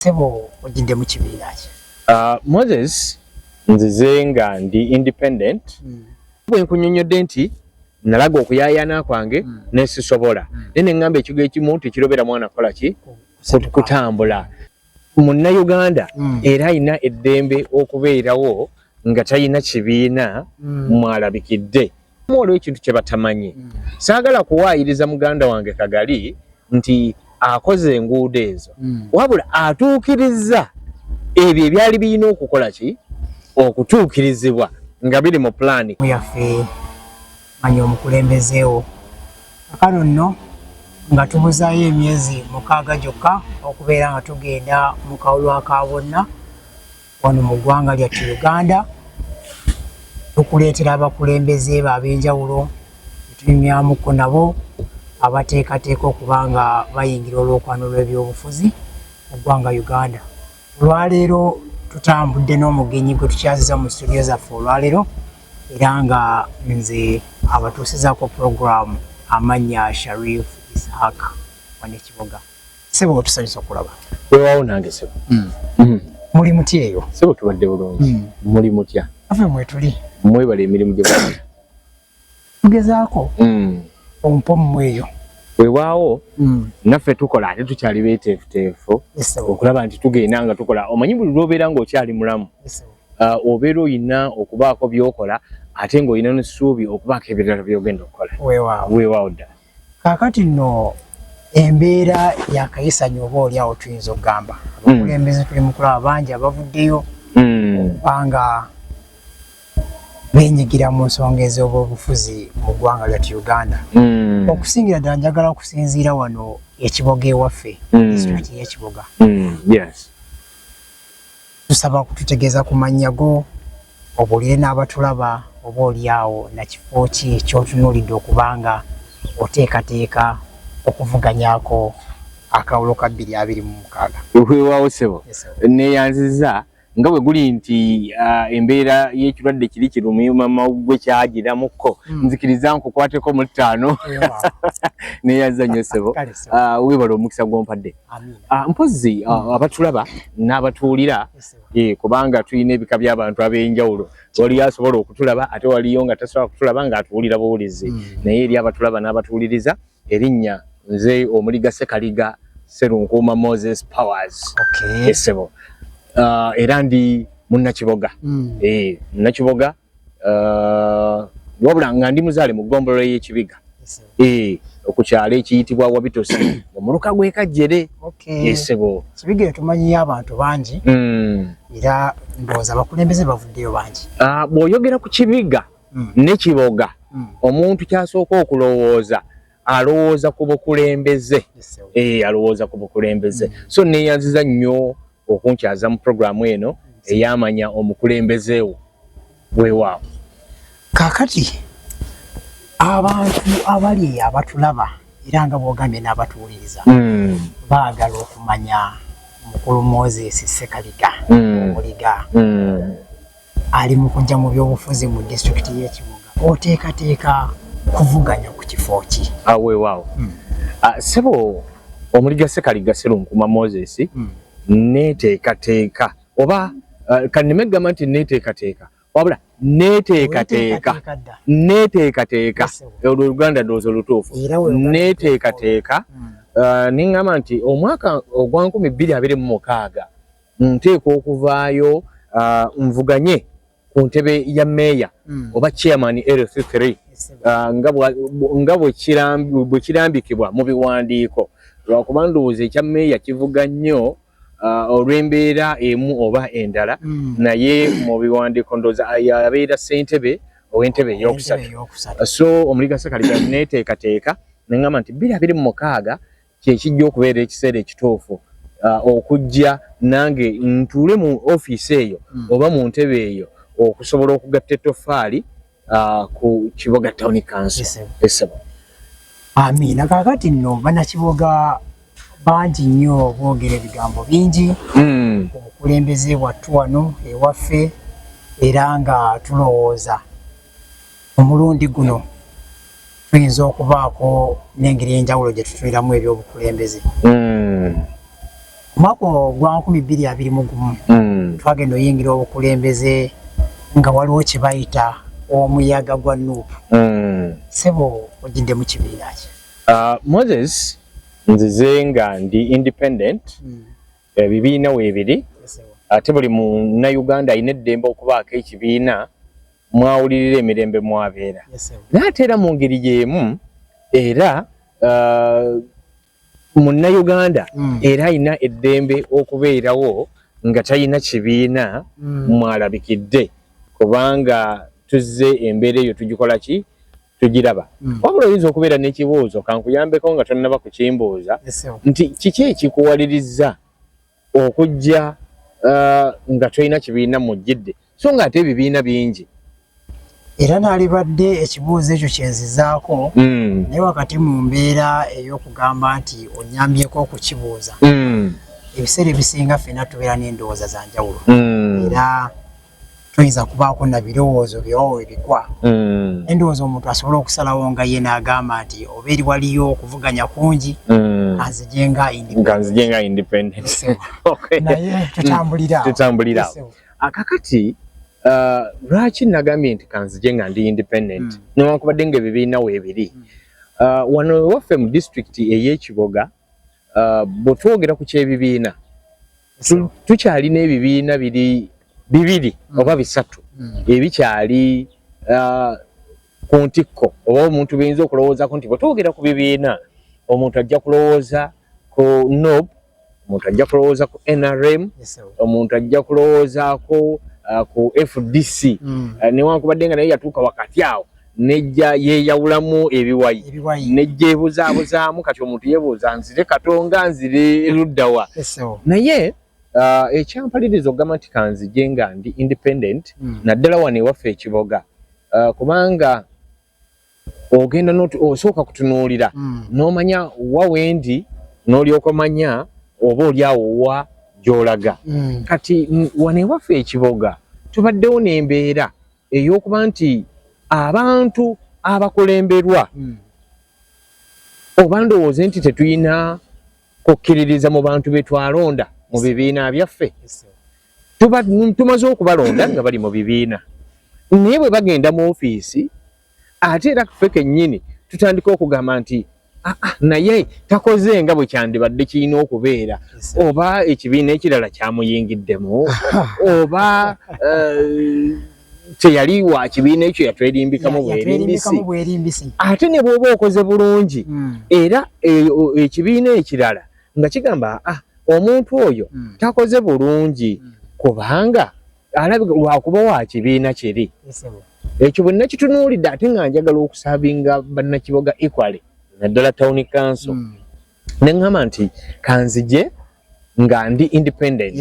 sebo ojidde mu kibiina ki uh, moses nzize nga ndi independent mm. bwe nkunyonyodde nti nalaga okuyayana kwange mm. nesisobola mm. naye neŋŋamba ekigo ekimu tekirobera mwana kukola ki kutambula munnauganda mm. era alina eddembe okubeerawo nga talina kibiina mm. mwalabikidde Waliwo ekintu kye batamanyi. Mm. Saagala kuwaayiriza muganda wange Kagali nti akoze enguudo ezo. Mm. Wabula atuukirizza ebyo ebyali birina okukola ki okutuukirizibwa nga biri mu pulaani yaffe. Manya omukulembezeewo akano nno nga tubuzaayo emyezi mukaaga gyokka okubeera nga tugenda mu kawulwa ka bonna Wano mu ggwanga lyattu Uganda tukuleetera abakulembeze be ab'enjawulo tunyumyamuko nabo abateekateeka okuba nga bayingira olwokwano lw'ebyobufuzi mu ggwanga Uganda. Olwaleero tutambudde n'omugenyi gwe tukyaziza mu situdiyo zaffe olwaleero era nga nze abatuusizaako pulogulaamu amannya Sharif Ishaq Wanekiboga. Sebo otusanyusa okulaba. Wewawo nange sebo. Mm. Mm. Muli mutya eyo? Sebo tubadde bulungi. Mm. Muli mutya? Afe mwetuli. Mwebale emirimu gye bali. Tugezaako. Mm. Ompo mmweyo. Wewawo mm. naffe tukola ate tukyali beeteefuteefu yes, okulaba nti tugenda nga tukola omanyi buli lwobeera ng'okyali mulamu yes, uh, obeera olina okubaako byokola ate ng'olina n'essuubi okubaako ebirala byogenda okukola wewawo ddala kakati no embeera yakayisanya oba oli awo tuyinza okugamba hmm. abakulembeze tuli mukulaba bangi abavuddeyo kubanga hmm. benyigira mu nsonga ez'obufuzi mu ggwanga lyati uganda hmm. okusingira ddala njagala okusinziira wano ekiboga ewaffe hmm. district yekiboga hmm. Tusaba kututegeeza ku mannya go obuulire n'abatulaba oba olyawo na kifo ki ky'otunuulidde okuba nga oteekateeka okuvuganyaako akalulu ka bbiri abiri mu mukaaga. Weewaawo ssebo, nneeyanzizza. Nga bwe guli nti embeera y'ekirwadde kiri kirumyuma mawuggwe kyagiramukko, hmm. nzikiriza nkukwateko mu ttaano. Nneeyanzizza nnyo ssebo, weebale omukisa gw'ompadde. Ah, mpozi ah, hmm. abatulaba n'abatuwulira eh, kubanga tulina ebika by'abantu ab'enjawulo waliyo asobola okutulaba ate waliyo nga tasobola kutulaba ng'atuwulira buwulizi hmm. naye eri abatulaba n'abatuwuliriza erinnya nze omuliga sekaliga serunkuuma moses powers esebo ah, era ndi munnakiboga hmm. eh, munnakiboga uh, wabula nga ndi muzaale mu ggombolola y'ekibiga eh, ku kyalo ekiyitibwa wabitosi omuluka gwekajjere esebo kibiga etumanyiyo abantu bangi hmm. era ndowooza abakulembeze bavuddeyo bangi ah, bw'oyogera ku kibiga hmm. ne kiboga hmm. omuntu kyasooka okulowooza alowooza ku bukulembeze eh, alowooza ku bukulembeze mm. so neyanziza nnyo okunkyaza mu programu eno mm. eyamanya omukulembeze wo wewaawo kakati abantu abali abatulaba era nga bwogambye n'abatuwuliriza mm. baagala okumanya mukulu moses sekaliga omuliga ali mu kujja mu byobufuzi mu disitulikiti y'e Kibuga oteekateeka kuvuganya ku kifo ki? Ah, weewaawo hmm. ah, ssebo omuliga Ssekaliga Sserunkuma Moses hmm. neeteekateeka oba ah, kanneme gamba nti neeteekateeka wabula neeteekateeka neeteekateeka olwo Uganda ndowooza olutuufu neeteekateeka hmm. neŋŋamba nti omwaka ogwa nkumi bbiri abiri mu mukaaga nteekwa okuvaayo uh, nvuganye ku ntebe ya meeya mm. oba chairman lc3 uh, nga bwe kirambikibwa mu biwandiiko lwakuba ndowooza ekya meeya kivuga nnyo uh, olw'embeera emu oba endala mm. naye mu biwandiiko ndowooza yabeera ssentebe ow'entebe eyokusatu so omuligasakaliga neteekateeka nengamba nti biri abiri mu mukaaga kye kijja okubeera ekiseera ekituufu uh, okujja nange ntuule mu ofiisi eyo mm. oba mu ntebe eyo okusobola okugatta ettofaali uh, ku kiboga town council esebo amiina kakati nno banakiboga bangi nnyo boogera ebigambo bingi mm. obukulembeze bwattu wano ewaffe era nga tulowooza omulundi guno tuyinza okubaako n'engeri enjawulo gye tutuniramu ebyobukulembeze hmm. omwaka ogwa nkumi bbiri abiri mu gumu hmm. twagenda oyingira obukulembeze nga waliwo kye bayita omuyaga gwa nuupu hmm. sebo ogidde mu kibiina ki ah, moses nzize nga ndi independent ebibiina weebiri ate buli munnayuganda alina eddembe okubaako ekibiina mwawulirira emirembe mwabeera naye ate era mu ngeri y'emu era uh, munnayuganda mm. era alina eddembe okubeerawo nga talina kibiina mm. mwalabikidde kubanga tuzze embeera eyo tugikola ki tugiraba mm. wabula oyinza okubeera n'ekibuuzo kankuyambeko nga tonnaba kukimbuuza nti kiki ekikuwaliriza okujja uh, nga tolina kibiina mujjidde so nga ate ebibiina bingi era nalibadde ekibuuzo ekyo kyenzizaako mm. naye wakati mu mbeera ey'okugamba nti onyambyeko okukibuuza mm. ebiseera ebisinga ffena tubeera n'endowooza za njawulo mm. era toyinza kubaako na birowoozo byowo webigwa mm. endowooza omuntu asobola okusalawo nga ye naagamba nti oba eri waliyo okuvuganya kungi mm. kanzije nga naye tutambulirawo akakati uh, lwaki nagambye nti kanzije nga ndi independent mm. newankubadde nga ebibiina weebiri uh, wano ewaffe mu disitulikiti ey'ekiboga uh, bwetwogera ku kyebibiina tukyalina ebibiina biri bibiri mm. oba bisatu mm. ebikyali uh, ku ntikko oba omuntu biyinza okulowoozako nti bwe twogera ku bibiina omuntu ajja kulowooza ku nob omuntu ajja kulowooza ku nrm omuntu ajja kulowoozaako uh, ku fdc mm. uh, newankubadde nga naye yatuuka wakati awo nejja yeyawulamu ebiwayi nejja ebuzaabuzaamu kati omuntu yebuuza nzire katonga nzire luddawa naye uh, ekyampaliriza okugamba nti kanzije nga ndi independent hmm. naddala wano ewaffe ekiboga uh, kubanga ogenda osooka kutunuulira hmm. nomanya wa wendi nolyoka omanya oba olyawo wa gyolaga hmm. kati wano ewaffe ekiboga tubaddewo nembeera eyokuba nti abantu abakulemberwa mm. oba ndowooze nti tetulina kukkiririza mu bantu be twalonda mu bibiina byaffe tumaze okubalonda nga bali mu bibiina naye bwe bagenda mu ofiisi ate era ffe kennyini tutandika okugamba nti Ah, ah, naye takoze nga bwe kyandibadde kirina okubeera oba ekibiina ekirala kyamuyingiddemu oba eh, teyali wa kibiina ekyo yatwerimbikamu bwerimbisi ate ne bwoba okoze bulungi hmm. era eh, ekibiina ekirala nga kigamba ah, omuntu oyo hmm. takoze bulungi hmm. kubanga alabika lwakuba wa kibiina kiri ekyo bwe nakitunuulidde ate nga njagala okusabinga bannakiboga equaly naddala town council hmm. ne ŋŋamba nti kanzije nga ndi independent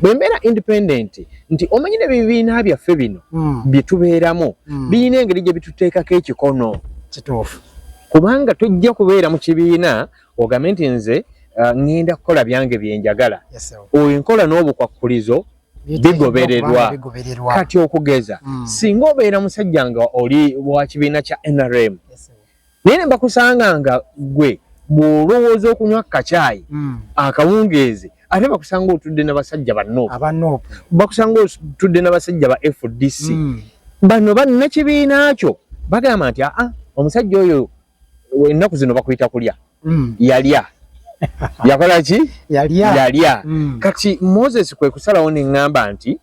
bwe mbeera independent nti omanyi ne bibiina byaffe bino hmm. bye tubeeramu hmm. birina engeri gye bituteekako ekikono kituufu kubanga tojja kubeera mu kibiina ogambe nti nze uh, ŋŋenda kukola byange bye njagala oyo enkola n'obukwakkulizo bigobererwa kati okugeza mm. singa obeera musajja nga oli wa kibiina kya nrm yes, naye ne bakusanga nga gwe bw'olowooza okunywa kacaayi mm. akawungeezi ate bakusanga otudde na basajja banop bakusanga otudde na basajja ba fdc mm. bano bannakibiina kyo bagamba nti aa omusajja oyo ennaku zino bakuyita kulya mm. yalya yakola ki yalya yalya mm. kati moses kwe kusalawo ne ŋŋamba nti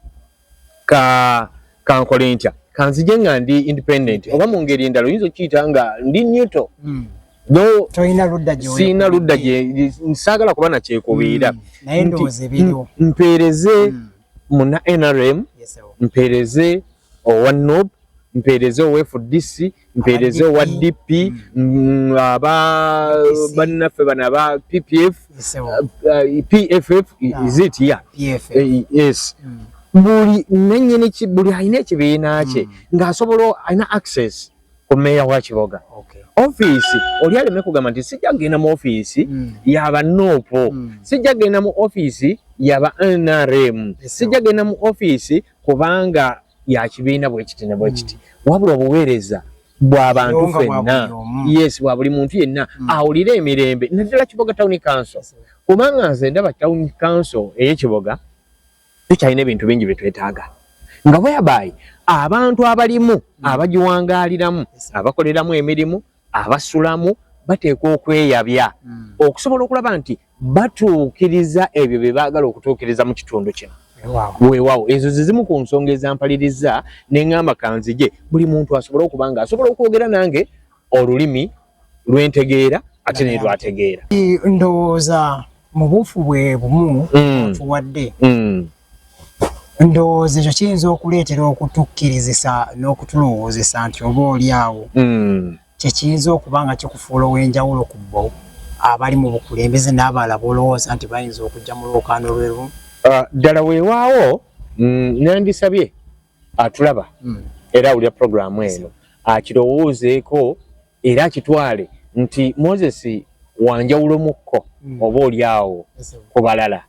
ka kankole ntya kanzije nga ndi independent oba mu ngeri endala oyinza okiyita nga ndi newto mm. no toyina ludda gye siyina ludda gye nsaagala kuba nakyekubiira mm. naye ndowooza ebiriwo mpeereze mm. muna nrm yes, mpeereze owa nup mpeereze owefu dc mpeereze owa dp mm. mm, aba bannaffe bano aba ppf uh, pff ah. is it ya eh, yes mm. buli nanyini buli alina ekibiina kye ng'asobola alina access ku meeya wa kiboga ofiisi oli aleme kugamba nti sijja kugenda mu ofiisi yaba nuupu sijja kugenda mu ofiisi yaba nrm sijja kugenda mu ofiisi kubanga ya kibiina bwe kiti ne bwe hmm. kiti wabula obuweereza bwa bantu fenna yes bwa buli muntu yenna hmm. awulira emirembe naddala kiboga town council kubanga nze ndaba town council ey'ekiboga tukyalina ebintu bingi bye twetaaga nga bweyabayi abantu abalimu hmm. abagiwangaaliramu abakoleramu emirimu abasulamu bateekwa okweyabya hmm. okusobola okulaba nti batuukiriza ebyo bye baagala okutuukiriza mu kitundu kino weewaawo ezo ze zimu ku nsonga ezampaliriza ne ŋŋamba kanzije buli muntu asobole okuba nga asobola okwogera nange olulimi lwentegeera ate naye lwategeera ndowooza mu buufu bwe bumu hmm. tuwadde hmm. ndowooza ekyo kiyinza okuleetera okutukkirizisa n'okutulowoozesa nti oba oli awo hmm. kyekiyinza okuba nga kikufuula ow'enjawulo ku bo abali mu bukulembeze n'abalala b'olowooza nti bayinza okujja mu lwokaano lwerumu ah, ddala weewaawo mm, nandisabye atulaba hmm. era awulira puroguramu eno akirowoozeeko era akitwale nti moses wanjawulomukko hmm. oba oli awo ku balala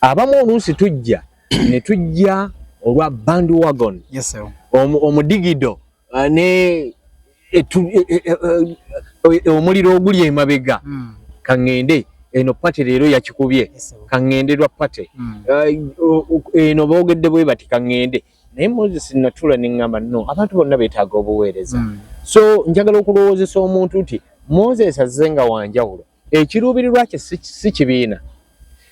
abamu oluusi tujja ne tujja olwa band wagon yes, omudigido uh, ne e, e, e, omuliro oguli emabega mm. kaŋŋende eno pate leero yakikubye kaŋŋende lwa pate mm. uh, eno boogedde bwe bati kaŋŋende naye moses natula ne ŋŋamba no abantu bonna beetaaga obuweereza mm. so njagala okulowoozesa omuntu nti moses azze nga wanjawulo ekiruubirirwa kye si kibiina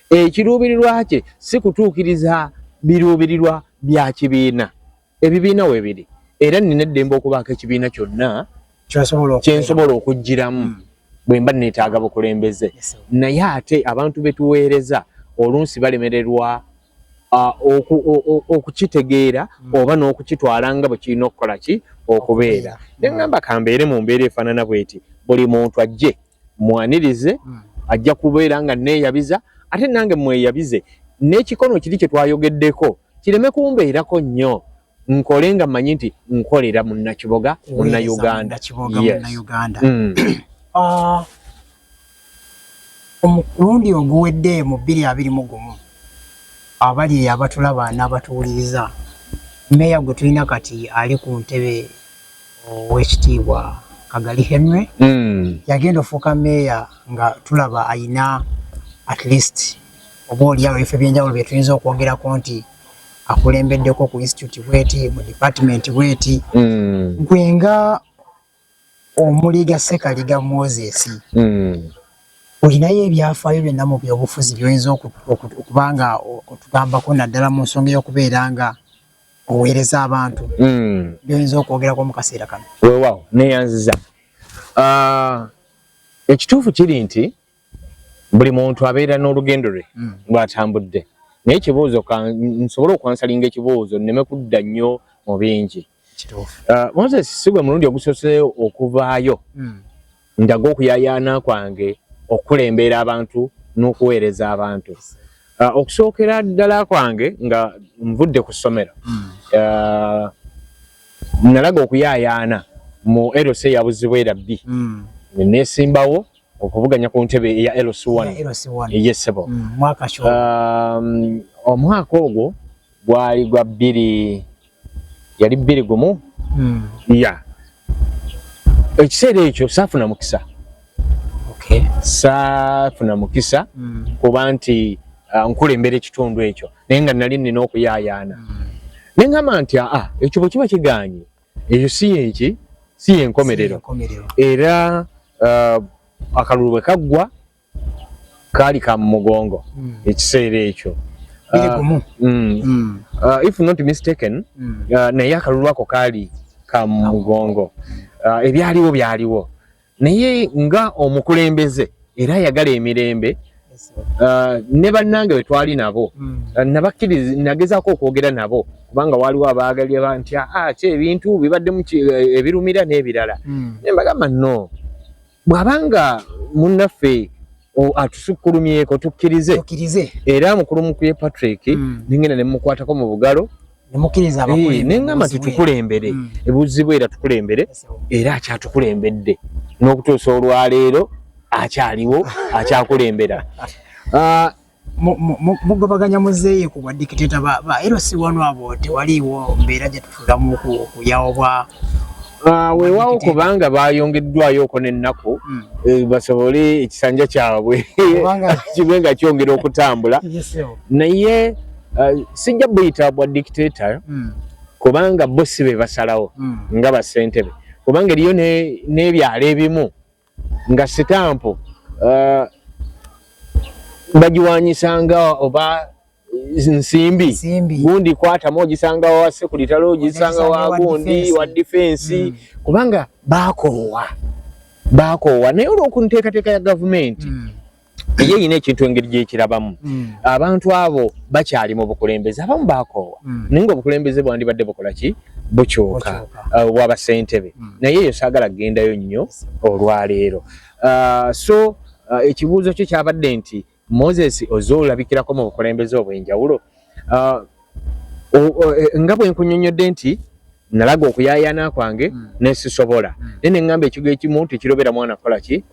ekiruubirirwa kye si kutuukiriza biruubirirwa bya kibiina ebibiina webiri era nina eddembe okubaako ekibiina kyonna kyensobola okugiramu hmm. bwe mba neetaaga bukulembeze naye ate abantu betuweereza oluusi balemererwa okukitegeera hmm. oba n'okukitwala nga bwe kirina okukola ki okubeera nengamba kambeere mu mbeera efaanana bweti buli muntu ajje mwanirize mm. ajja kubeera nga neeyabiza ate nange mweyabize n'ekikono kiri kye twayogeddeko kireme kumbeerako nnyo nkole nga mmanyi nti nkolera munnakiboga munnauganda mm. ah, omulundi oguwedde mu bbiri abiri mu gumu abali eyo abatulaba n'abatuwuliriza meeya gwe tulina kati ali ku ntebe owekitiibwa kagali henry mm. yagenda ofuuka meeya nga tulaba ayina at least oba oliawo ebifo ebyenjawulo byetuyinza okwongerako nti akulembeddeko ku institute bweti mu department bweti mm. gwe nga omuliga sekaliga moses mm. olinayo ebyafaayo byonna mu byobufuzi byoyinza okubanga otugambako naddala mu nsonga eyokubeera nga oweereza abantu mm. byoyinza okwogerako mu kaseera kano wewawo neyanziza ah, ekituufu kiri nti buli muntu abeera n'olugendo lwe mm. lwatambudde naye ekibuuzo nsobole okwansalinga ekibuuzo nneme kudda nnyo mu bingi ah, moses si gwe mulundi ogusoseeyo okuvaayo mm. Ndaga okuyayaana kwange okukulembeera abantu n'okuweereza abantu. Uh, okusookera ddala kwange nga nvudde ku ssomero mm. uh, nalaga okuyayaana mu LC ya Buzibwera B mm. nesimbawo okuvuganya ku ntebe eya LC1 eyesebo mm, um, omwaka ogwo gwali gwa bbiri yali bbiri gumu hmm. ya ekiseera ekyo saafuna mukisa saafuna mukisa hmm. kuba nti ah, nkulembera ekitundu ekyo naye nga nali nina okuyaayaana hmm. ne ngamba nti aa ah, ah, ekyo bwe kiba kiganye ekyo si yenki si yenkomerero era akalulu bwe kaggwa kaali ka mu mugongo mm. ekiseera ekyo uh, mm. mm. uh, if not mistaken mm. uh, naye akalulu ako kaali ka mu mugongo uh, ebyaliwo byaliwo naye nga omukulembeze era ayagala emirembe uh, ne bannange bwe twali nabo mm. uh, nabakkiriza nagezaako okwogera nabo kubanga waaliwo abaagali aba nti aa ah, ah, ki ebintu bibaddemu eh, ebirumira n'ebirala mm. ne mbagamba no bw'aba nga munnaffe atusukkulumyeko tukkirize era mukulu mukuye patrick mm. nengenda nemukwatako mu bugalo eh, nengamba nti tukulembere mm. ebuzibu era tukulembere era akyatukulembedde n'okutuusa olwaleero akyaliwo akyakulembera ah, mugobaganya muzeeyi ku badikiteta ba era si wano abo tewaliiwo mbeera gye tufudamu okuyawo bwa ah, weewaawo kubanga baayongeddwayoko n'ennaku hmm. eh, basobole ekisanja kyabwe kibe nga kyongera okutambula naye ah, sijja buyita bwa dikiteta hmm. kubanga bo si be basalawo hmm. nga basentebe kubanga eriyo n'ebyalo ebimu nga sitampu uh, bagiwanyisanga oba nsimbi gundi kwatamu ogisanga wa sekulitale ogisanga wa gundi wa difensi mm. kubanga bakoowa bakoowa naye olwokunteekateeka ya gavumenti mm. ye yina ekintu engeri gyekirabamu mm. abantu abo bakyali mu bukulembeze abamu bakoowa mm. naye nga obukulembeze bwandibadde bukola ki bukyuka uh, waba sentebe mm. naye eyo saagala kugendayo nnyo olwaleero uh, so uh, ekibuuzo kyo kyabadde nti moses oze olabikirako mu bukulembeze obwenjawulo eh, nga bwenkunyonyodde nti nalaga okuyayana kwange mm. nesisobola mm. naye nengamba ekigo ekimu tekirobera mwana kukola ki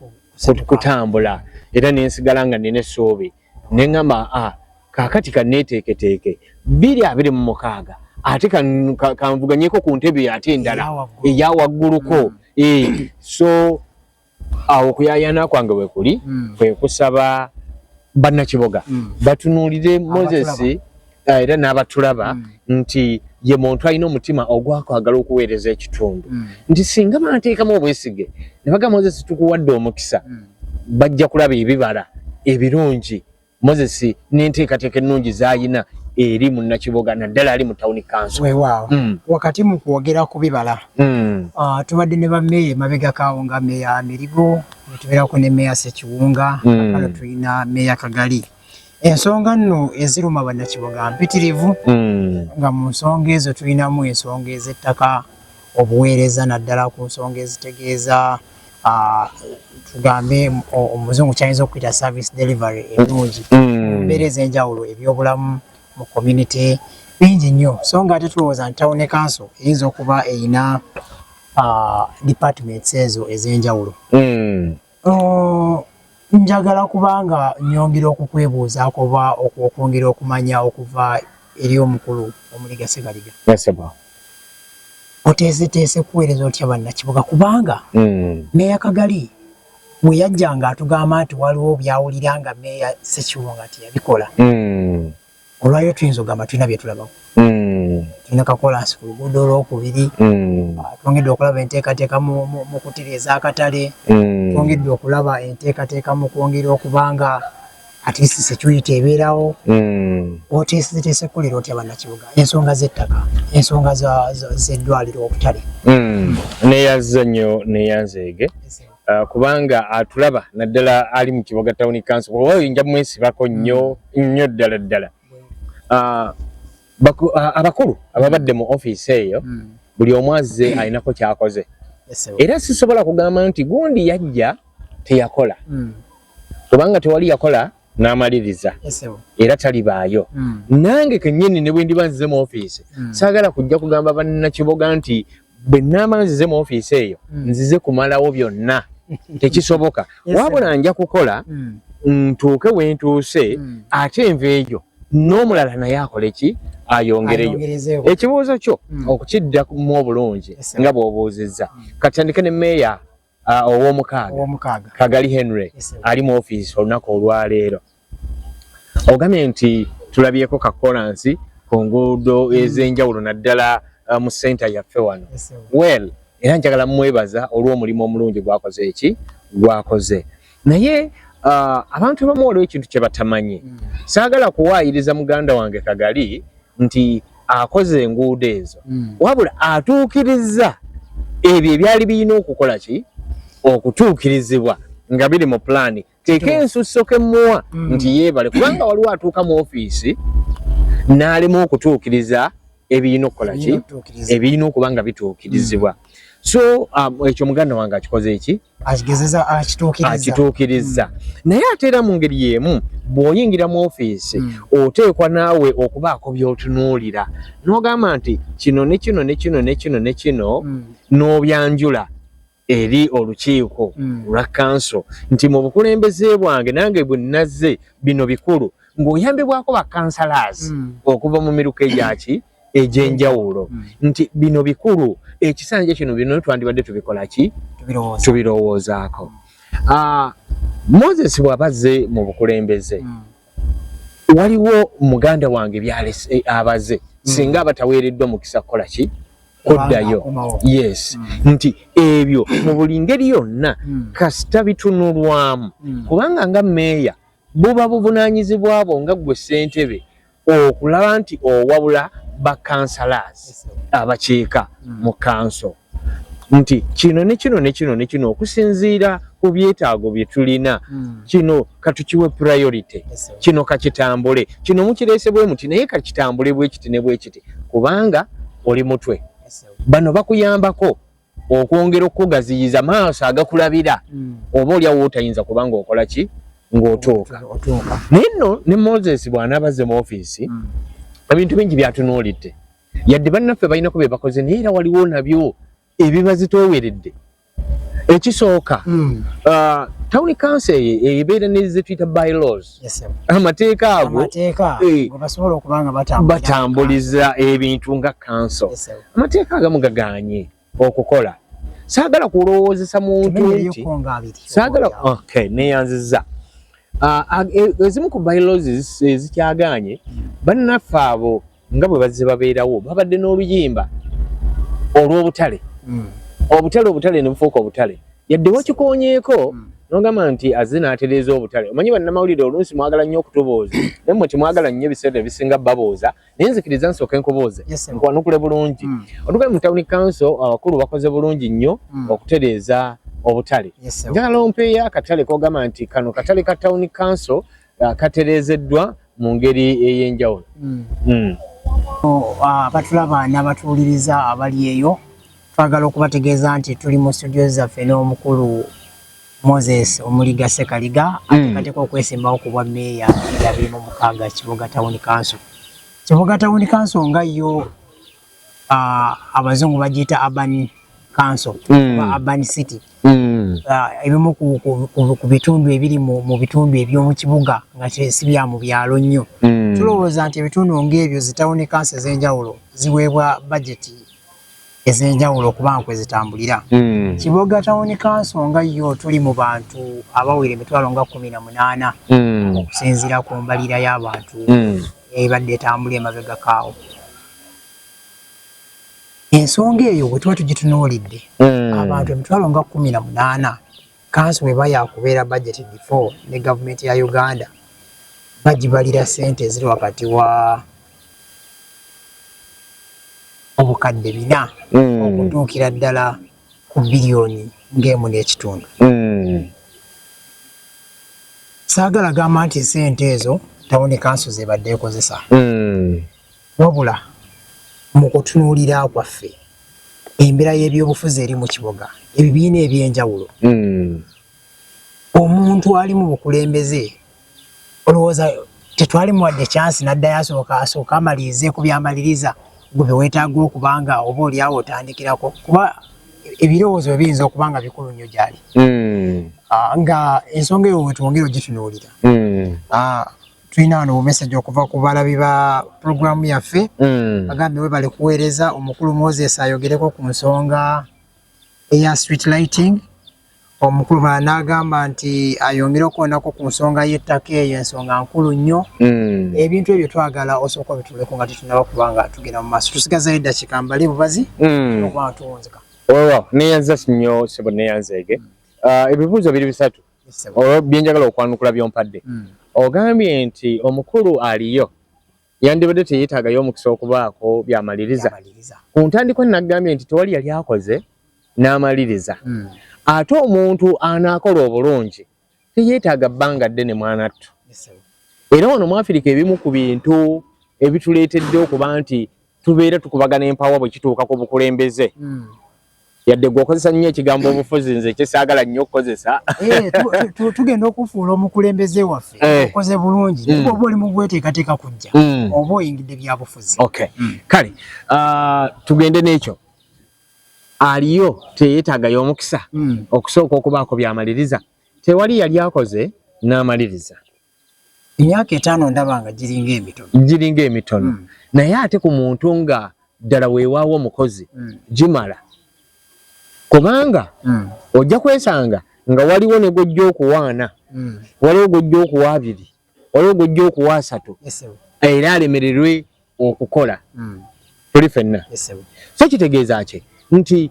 kutambula era nensigala nga nina essuubi neŋamba a ah, kakati kaneteeketeeke biri abiri mu mukaaga ate kanvuganyeko ku ntebe ate endala eya wagguluko mm. eh, so awo okuyayana kwange wekuli mm. kwekusaba bannakiboga mm. batunuulire moses ah, era n'abatulaba mm. nti ye muntu alina omutima ogwakwagala okuweereza ekitundu mm. nti singa banateekamu obwesige ne bagamba moses tukuwadde omukisa mm. bajja kulaba ebibala ebirungi moses n'enteekateeka ennungi z'alina eri munnakiboga naddala ali mu tawuni kanso wewaawo mm. wakati mu kwogera ku bibala mm. uh, tubadde ne bameeya emabega kaawo nga meeya mirigo netubeerako ne meeya sekiwunga mm. akalo tulina meeya kagali ensonga nno eziruma bannakiboga mpitirivu hmm. nga mu nsonga ezo tulinamu ensonga ez'ettaka obuweereza naddala ku nsonga ezitegeeza ah, tugambe omuzungu kyayinza okuyita service delivery enungi hmm. embeera ez'enjawulo ebyobulamu mu community bingi nnyo so nga ate tulowooza nti tawone kanso eyinza okuba erina ah, departments ezo ez'enjawulo hmm. Njagala kubanga nyongera okukwebuuzaako oba okwongera okumanya okuva eri omukulu Omuliga Ssegaliga. Oteeseteese kuweereza otya Bannakibuga kubanga hmm. Meeya Kagali bwe yajjanga atugamba nti waliwo by'awulira nga Meeya Ssekibunga teyabikola. Hmm. Olwaleero tuyinza okugamba tulina bye tulabako. Hmm. Tulina kakolansi ku luguudo olwokubiri, hmm. ah, twongedde okulaba enteekateeka mu kutereeza akatale, hmm. twongedde okulaba enteekateeka mu kwongera okuba nga atisi security ebeerawo. Oteeseteese kukolera otya bannakibuga ensonga z'ettaka, ensonga z'eddwaliro, obutale. Neyazza nnyo neyanzeege. Yes, Uh, kubanga atulaba naddala ali mu kiboga tawuni kanso kuba oyinja mwesibako nnyo mm. nnyo ddala ddala uh, uh, abakulu ababadde mu ofiisi eyo mm. buli omu azze mm. alinako kyakoze era sisobola kugamba nti gundi yajja teyakola kubanga tewali yakola n'amaliriza era talibaayo hmm. nange kennyini ne bwe ndiba nzize mu ofiisi hmm. saagala kujja kugamba bannakiboga nti bwe nnaaba nzize mu ofiisi eyo hmm. nzize kumalawo byonna tekisoboka wabula nja kukola ntuuke we ntuuse ate enva eyo n'omulala naye akole ki ayongereyo ekibuuzo kyo okukiddakmu obulungi nga bw'obuuzizza katandike ne meeya Ah, owomukaaga kagali henry ali mu ofiisi olunaku olwaleero ogambye nti tulabyeko kakolansi ku nguudo mm. ez'enjawulo naddala ah, mu senta yaffe wano well era njagala mwebaza olw'omulimu omulungi gwakoze eki gwakoze naye uh, abantu abamu waliwo ekintu kye batamanyi mm. saagala kuwaayiriza muganda wange kagali nti akoze enguudo ezo mm. wabula atuukirizza ebyo ebyali birina okukola ki okutuukirizibwa nga biri mu pulaani teeka ensusso kemuwa mm. nti yeebale kubanga waliwo atuuka mu ofiisi n'alema okutuukiriza ebirina okukola ki ebirina okuba nga bituukirizibwa mm. so um, ekyo muganda wange akikoze eki akigezeza akituukiriza akituukiriza mm. naye ate era mu ngeri y'emu bw'oyingira mu ofiisi mm. oteekwa naawe okubaako by'otunuulira n'ogamba nti kino ne kino ne kino ne kino ne kino mm. n'obyanjula eri olukiiko lwa kanso nti mu bukulembeze bwange nange bwe nazze bino bikulu ng'oyambibwako bakansalaasi okuva mu miruka egyaki egyenjawulo mm. nti bino bikulu ekisanja kino bino twandibadde tubikolaki tubirowoozaako ah, moses bwabazze mu bukulembeze mm. waliwo muganda wange byalese eh, abaze mm. singa abataweereddwa mukisa kukola ki kuddayo yes mm. nti ebyo mu buli ngeri yonna mm. kasita bitunulwamu mm. kubanga nga meeya buba buvunanyizibwa bwo nga gwe ssentebe okulaba nti owabula ba councillors abakiika mm. mu council nti kino ne kino ne kino ne kino okusinziira ku byetaago bye tulina mm. kino katukiwe priority yes, kino kakitambule kino mukireese bwe muti naye kakitambule bwekiti ne bwekiti kubanga oli mutwe yes, bano bakuyambako okwongera okukugaziyiza maaso agakulabira mm. oba olyawo otayinza kubanga okola ki ng'otuuka naye nno ne moses bw'anaabazze mu ofiisi mm. ebintu bingi byatunuulidde yadde bannaffe balinako bye bakoze naye era waliwo nabyo ebibazitooweredde ekisooka mm. uh, tawuni kanso eyo ebeera nezetuyita bylaws amateeka ago eh, batambuliza ebintu nga kanso amateeka agamu gaganye okukola saagala kulowoozesa muntu nti saagala neyanziza ah, ah, e, ezimu ku biolosis ezikyaganye bannaffe abo nga bwe bazze babeerawo babadde n'oluyimba olw'obutale hmm. obutale obutale ne bufuuka obutale yadde wakikoonyeeko hmm. nogamba nti azze n'atereeza obutale omanyi bannamawulire oluusi mwagala nnyo okutubooza naye mwe temwagala nnyo ebiseera ebisinga babooza naye nzikiriza nsooka enkubooze nkwanukule bulungi hmm. otugae mu tawuni kanso abakulu bakoze bulungi nnyo okutereeza obutale njagala ompeeyo akatale kogamba nti kano katale ka tawuni kanso uh, katereezeddwa mu ngeri ey'enjawulo mm. mm. oh, ah, abatulaba uh, n'abatuwuliriza abali eyo twagala okubategeeza nti tuli mu studio zaffe n'omukulu moses omuliga sekaliga mm. atekateka okwesimbawo ku bwa meeya ebya biri mu mukaaga kibuga tawuni kanso kibuga tawuni kanso nga yo uh, abazungu bagiyita urban council mm. oba urban city mm. uh, ebimu ku, ku, ku, ku bitundu ebiri mu, mu bitundu eby'omu kibuga nga si bya mu byalo nnyo mm. tulowooza nti ebitundu ng'ebyo zitawuni kansi ez'enjawulo ziweebwa bajeti ez'enjawulo okubanga kwe zitambulira mm. kiboga tawuni kanso nga yo tuli mu bantu abawera emitwalo nga kumi na munaana mm. okusinziira ku mbalira y'abantu mm. ebadde etambula emabega kaawo ensonga eyo bwe tuba tugitunuulidde hmm. abantu emitwalo nga kumi na munaana kansi bwe ba yakubeera bajeti before ne gavumenti ya uganda bagibalira sente eziri wakati wa obukadde bina hmm. okutuukira ddala ku biliyoni ng'emu n'ekitundu hmm. saagala gamba nti sente ezo tawuni kansi zebadde ekozesa Wabula mu kutunuulira kwaffe embeera y'ebyobufuzi eri mu kiboga ebibiina eby'enjawulo hmm. omuntu ali mu bukulembeze olowooza tetwali muwadde kyansi n'addayo asooka asooka amalirize ku byamaliriza gwe bye weetaaga okuba nga oba oli awo otandikirako kuba ebirowoozo bye biyinza okuba nga bikulu nnyo gyali hmm. ah, nga ensonga eyo wetwongera ogitunuulira hmm. ah, tulina wano bumeseji okuva ku balabi ba pulogulaamu yaffe mm. bagambe we bali kuweereza omukulu moses ayogereko ku nsonga eya street lighting omukulu bala n'agamba nti ayongere okuwonako ku nsonga y'ettaka eyo ensonga nkulu nnyo mm. ebintu ebyo twagala osooka obituleko nga tetunaba kubanga tugenda mu maaso tusigazayo eddakiika mbale bubazi mm. okuba nga tuwunzika wewa neyanza nnyo sebo neyanzeege uh, ebibuuzo biri bisatu olwo byenjagala okwanukula byompadde hmm. ogambye nti omukulu aliyo yandibadde teyetaagayo omukisa okubaako byamaliriza ku ntandikwa nagambye nti tewali yali akoze n'amaliriza hmm. ate omuntu anaakola obulungi teyetaaga bbanga ddene mwanattu era wano mwafirika ebimu ku bintu ebituleetedde okuba nti tubeera tukubagana empawa bwe kituuka ku bukulembeze hmm. yadde gwe okozesa nnyo ekigambo obufuzi nze kyesaagala nnyo okukozesa eh, tugenda okufuula omukulembeze waffe eh. okoze bulungi mm. oba oli mugweteekateeka kujja mm. oba oyingidde byabufuzi mm. kale ah, tugende n'ekyo aliyo teyetagayo omukisa okusooka okubaako byamaliriza tewali yali akoze n'amaliriza emyaka etaano ndaba nga giringa emitono giringa emitono mm. naye ate ku muntu nga ddala weewaawo omukozi mm. gimala kubanga mm. ojja kwesanga nga waliwo ne gwojja okuwaana mm. waliwo gwojja okuwa abiri waliwo gwojja okuwa asatu era alemererwe okukola mm. tuli fenna so kitegeeza ki nti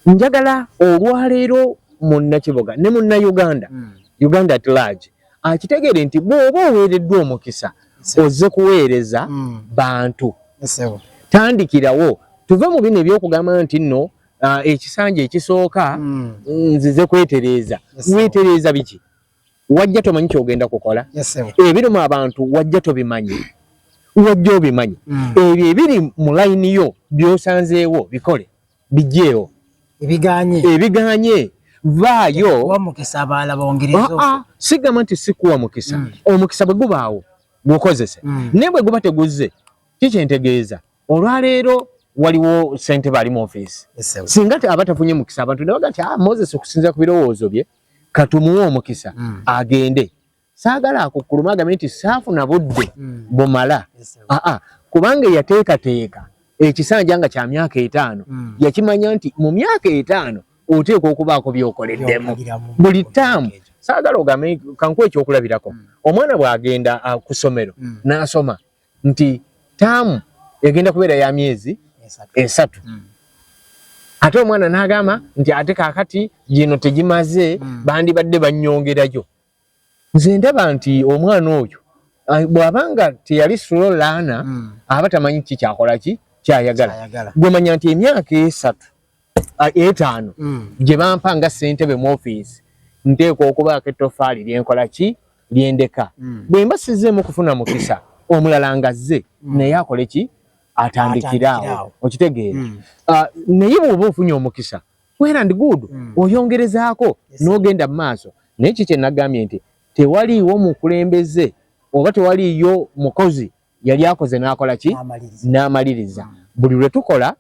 njagala olwaleero munnakiboga ne munna uganda mm. uganda at large akitegeere nti bw'oba oweereddwa omukisa ozze kuweereza mm. bantu tandikirawo tuve mu bino ebyokugamba nti nno ekisanja ekisooka mm. nzize kwetereeza wetereeza biki wajja tomanyi kyogenda kukola ebirimu abantu wajja tobimanyi wajja obimanyi mm. ebyo ebiri mu layini yo byosanzeewo bikole bijeewo ebiganye ebiganye vaayo ah, ah, sigamba nti sikuwa mukisa mm. omukisa bwe gubaawo gukozese mm. naye bwe guba teguzze kikyentegeeza olwaleero waliwo sente bali mu office singa aba tafunye mukisa abantu ne bagati ah moses okusinzira ku birowoozo bye katumuwe omukisa mm. agende saagala akukkuluma agambe nti saafuna budde mm. bumala aa kubanga eyateekateeka ekisanja nga kya myaka etaano mm. yakimanya nti mu myaka etaano oteekwa okubaako byokoleddemu buli taamu saagala ogambe kankuwa ekyokulabirako mm. omwana bw'agenda ah, ku ssomero mm. n'asoma nti taamu egenda kubeera ya myezi esatu hmm. ate omwana n'agamba nti ate kaakati gino tegimaze hmm. bandibadde bannyongerayo nze ndaba nti omwana oyo bw'aba nga teyali sulo laana hmm. aba tamanyi ki kyakola ki kyayagala gwemanya nti emyaka esatu ah, etaano mm. gye bampa nga ssentebe mu ofiisi nteekwa okubaako ettofaali lyenkola ki lyendeka mm. bwe mba sizzeemu kufuna mukisa omulala ngazze mm. naye akole ki atandikiraawo okitegeera mm. ah, naye bwoba ofunye omukisa wera ndi good mm. oyongerezaako n'ogenda mu maaso naye ki kye nagambye nti tewaliiwo mukulembeze oba tewaliiyo mukozi yali akoze n'akola ki n'amaliriza mm. buli lwe tukola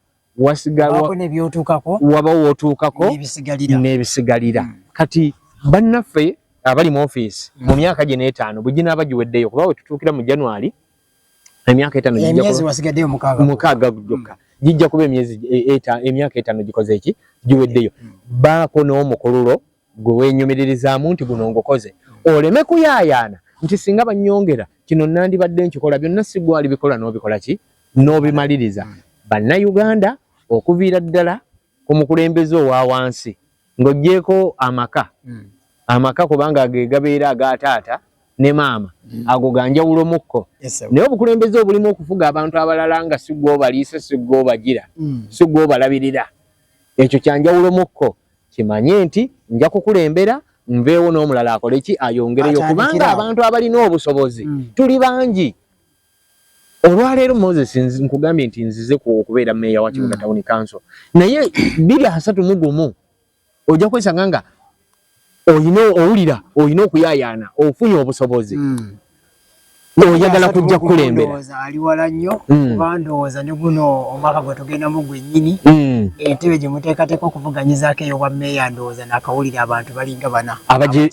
waba wotuukako n'ebisigalira hmm. kati bannaffe abali mu ofiisi hmm. mu myaka gye n'etaano bwe ginaaba giweddeyo kuba we tutuukira mu january emyaka etaano mukaaga gyokka hmm. gijja kuba emyezi e, emyaka etaano gikoze eki giweddeyo baako n'omukululo gwe wenyumiririzaamu nti guno ngukoze oleme kuyaayaana nti singa banyongera kino nandibadde nkikola byonna sigwali bikola n'obikola ki n'obimaliriza Bannayuganda okuviira ddala ku mukulembeze owa wansi ng'oggyeeko amaka hmm. amaka kubanga ge gabeera aga taata ne maama hmm. ago ga njawulo mukko naye obukulembeze obulimu okufuga abantu abalala nga si gw'obaliisa si gw'obagira hmm. si gw'obalabirira ekyo kya njawulo mukko kimanye nti nja kukulembera nveewo n'omulala akole ki ayongereyo kubanga abantu abalina obusobozi tuli bangi olwaleero moses nkugambye nti nzize okubeera meeya wa kibuga mm. tawuni kanso naye biri asatu mu gumu ojja kwesanga nga olina owulira olina okuyayaana ofunye obusobozi mm. oyagala kujja kukulembera ali wala nnyo mm. kuba ndowooza ne guno omwaka gwe tugendamu gwennyini mm. entebe gye muteekateeka okuvuganyizaako eyobwa meeya ndowooza naakawulira abantu balinga bana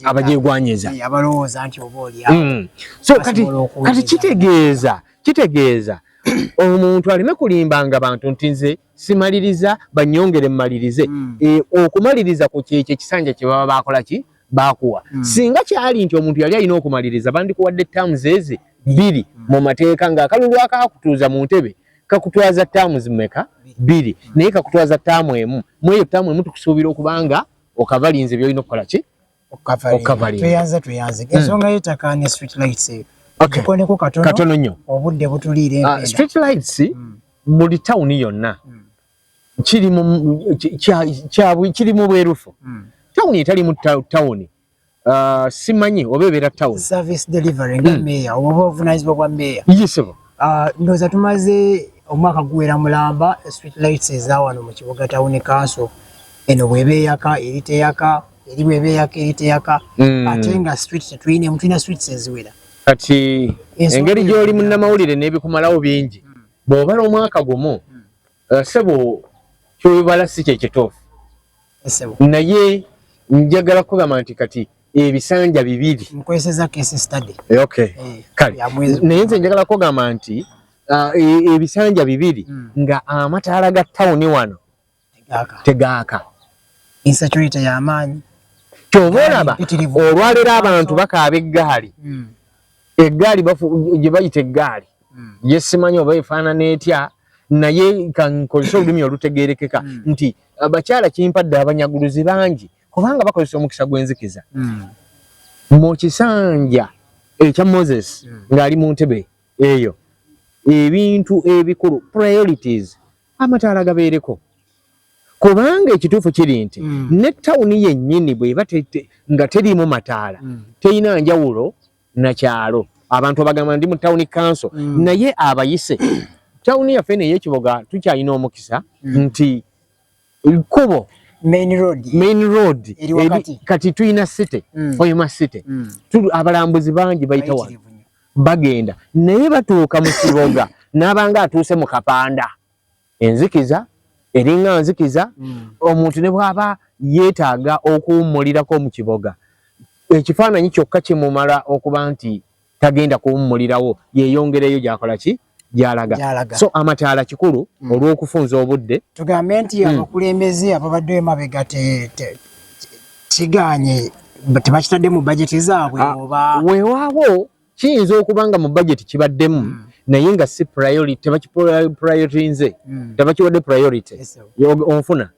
abagyegwanyiza abalowooza nti oba olya mm. so kati kati kitegeeza kitegeeza omuntu aleme kulimbanga bantu nti nze simaliriza banyongere mmalirize hmm. e, okumaliriza ku kyekyo ekisanja kye baba baakola ki baakuwa hmm. singa kyali nti omuntu yali alina okumaliriza bandikuwadde terms ezi bbiri hmm. mu mateeka ng'akalulu akaakutuuza mu ntebe kakutwaza terms meka bbiri naye kakutwaza term emu mu eyo term emu tukusuubira okubanga okavalinze byolina okukola ki okavalinga tweyanze hmm. ensonga y'ettaka ne street lights eyo gikoneko katono nnyo obudde butuliira ah, empenda street lights hmm. buli tawuni yonna hmm. kiri mu bwerufu tawuni etali mu tawuni ah, simanyi oba ebeera tawuni service delivery nga meeya oba obuvunanyizibwa bwa meeya yisebo ah, ndowooza tumaze omwaka guwera mulamba street lights ezawano mu kibuga tawuni kanso eno bweba eyaka eri teyaka eri bweba eyaka eri teyaka hmm. ate nga street tetuyinemu tulina streets eziwera kati engeri gy'oli munnamawulire n'ebikumalawo bingi hmm. bw'obala omwaka gumu hmm. uh, sebo kyobala si kyekituufu naye njagala kugamba nti kati ebisanja bibiri eh, naye nze njagala kugamba nti uh, e, ebisanja bibiri nga amataala ga tawuni wano tegaaka insecurity yamaanyi kyova olaba olwaleero abantu bakaaba eggaali hmm. eggaali gye bayita eggaali hmm. yesimanyi oba efaanana etya naye kankozesa olulimi olutegeerekeka hmm. nti abakyala kimpadde abanyaguluzi bangi kubanga bakozesa omukisa gw'enzikiza mu kisanja ekya moses ng'ali mu ntebe eyo ebintu ebikulu priorities amataala gabeereko kubanga ekituufu kiri nti mm. ne tawuni yennyini bweba nga teriimu mataala mm. terina njawulo nakyalo abantu abagamba ndi mu tawuni kanso mm. naye abayise tawuni yaffe eno eyekiboga tukyalina omukisa mm. nti kkubo main road main road kati tulina city mm. oyuma city mm. abalambuzi bangi bayitawa Bagenda naye batuuka mu kiboga n'abanga atuuse mu kapanda. Enzikiza eringa nzikiza mm. omuntu ne bw'aba yeetaaga okuwummulirako mu kiboga ekifaananyi kyokka kimumala okuba nti tagenda kuwummulirawo yeeyongereyo gy'akola ki gyalaga so amataala kikulu mm. olw'okufunza obudde tugambe nti mm. abakulembeze ababadde emabega kiganye tebakitadde mu bajeti zaabwe ah, oba weewaawo kiyinza okuba nga mu bajeti kibaddemu mm. naye nga si priority tebakiprioritinze mm. tebakiwadde priority onfuna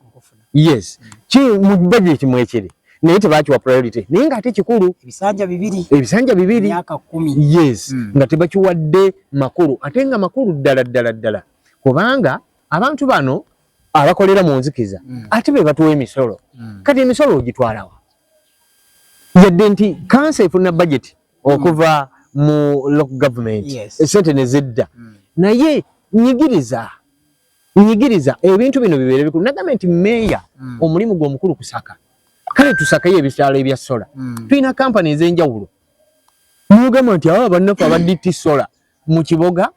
yes ki mu budget mwekiri naye tebakiwa priority naye nga ate kikulu ebisanja bibiri ebisanja bibiri myaka 10 yes mm. nga tebakiwadde makulu ate nga makulu ddala ddala ddala kubanga abantu bano abakolera mu nzikiza mm. ate be batuwa emisolo mm. kati emisolo ogitwalawa yadde nti kansa efuna budget hmm. okuva mm. mu local government yes. esente nezedda mm. naye nyigiriza nyigiriza ebintu bino bibeere bikulu nagambye nti meeya mm. omulimu gwe omukulu kusaka kale tusakayo ebisaalo ebya sola mm. tulina kampani ez'enjawulo nogamba nti aba bannaffe aba dt sola mu kiboga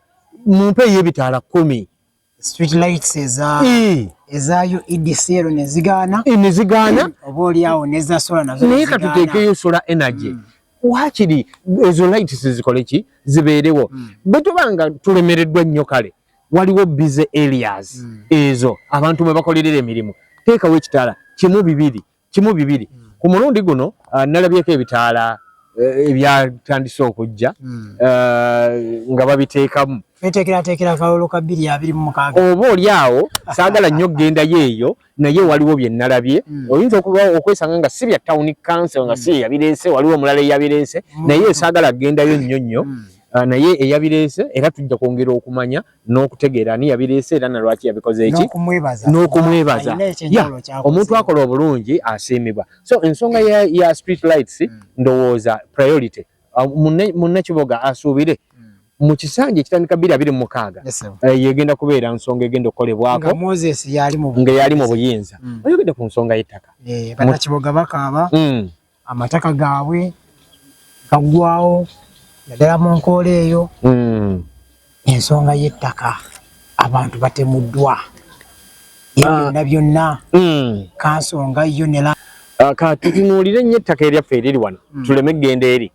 mu mpa ey'ebitaala kkumi naye katuteekeyo sola energy mm. wakiri ezo lights zikoleki zibeerewo bwe tuba nga tulemereddwa nnyo kale waliwo busy areas mm. ezo abantu mwe bakolerera emirimu teekawo ekitaala kimu bibiri kimu bibiri mm. ku mulundi guno uh, nalabyeko ebitaala eh, ebyatandise uh, okujja mm. uh, nga babiteekamu oba oli awo saagala nnyo okgendayo eyo naye waliwo bye nalabye mm. oyinza okuba okwesanga nga si bya town council nga mm. si eyabireese waliwo omulala eyabireese mm. naye esaagala kugendayo nnyo nnyo mm. uh, naye eyabireese era tujja kwongera okumanya n'okutegeera ani yabireese era nalwaki yabikoze eki n'okumwebaza omuntu akola obulungi asiimibwa so ensonga ya, ya street lights mm. ndowooza priority ah, munne kiboga asuubire hmm. mu kisanja ekitandika bbiri abiri mumukaaga eh, yegenda kubeera nsonga egenda okukolebwako nga yali mu buyinza hmm. oyogedde ku nsonga y'ettaka eh, banakiboga bakaaba hmm. amataka gaabwe gaggwawo naddala mu nkoola eyo ensonga y'ettaka abantu batemuddwa byonna ah. byonna hmm. kansonga yo ne ah, ka tutunuulire nnyo ettaka eryaffe eriri wano hmm. tuleme eggenda eri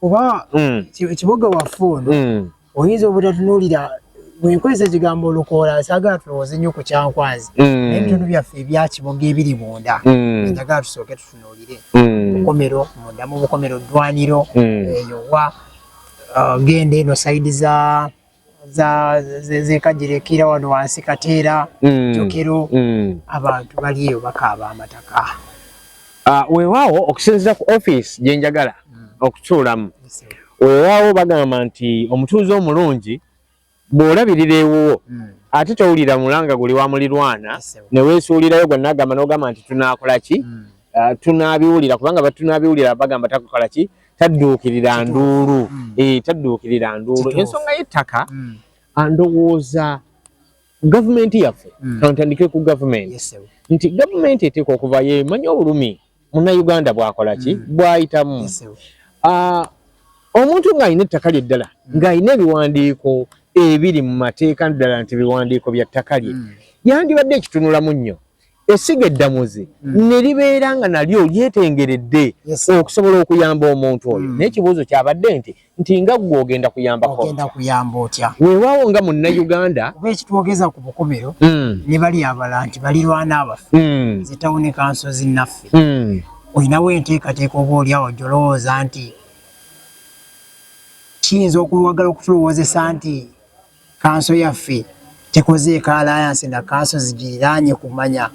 kuba hmm. ekiboga waffe ono oyinza obutatunuulira bwenkozesa ekigambo olukoola sagala tulowooze nnyo ku kyankwazi naye ebitundu byaffe ebyakiboga ebiri munda njagala tusooke tutunuulire bukomero munda mu bukomero ddwaniro eyowa uh, genda eno saidi za zekajirikira wano wansi kateera mm. jokero mm. abantu baliyo bakaaba amataka ah, wewawo okusinzira ku office gyenjagala mm. okutuulamu wewawo bagamba nti omutuuze omulungi bw'olabirira ewuwo hmm. ate towulira mulanga guli wa mulirwana ne weesuulirayo gwe nagamba n'ogamba nti tunaakola ki hmm. ah, tunaabiwulira kubanga batunaabiwulira bagamba takukola ki tadduukirira nduulu hmm. eh, tadduukirira nduulu ensonga y'ettaka ah, ndowooza gavumenti yaffe kantandike ku gavumenti nti gavumenti eteeka okuvayo emanyi obulumi muna Uganda bwakola ki mm. bwayitamu yes, uh, omuntu nga alina ettaka lye ddala mm. nga alina ebiwandiiko ebiri mu mateeka ddala nti biwandiiko bya ttaka lye mm. yandibadde ekitunulamu nnyo esiga eddamuzi mm. ne libeera nga nalyo lyetengeredde yes, okusobola okuyamba omuntu oyo mm. naye ekibuuzo kyabadde nti nti nga gwe ogenda kuyambako ogenda kuyamba otya weewaawo nga munnayuganda oba ekitwogeza ku bukomero mm. ne bali abala nti balirwana abaffe mm. zitawuni kanso zinnaffe mm. olinawo enteekateeka oba oliawo jolowooza nti kiyinza okuwagala okutulowoozesa nti kanso yaffe tekoze ekalayansi na kanso zigiriraanye kumanya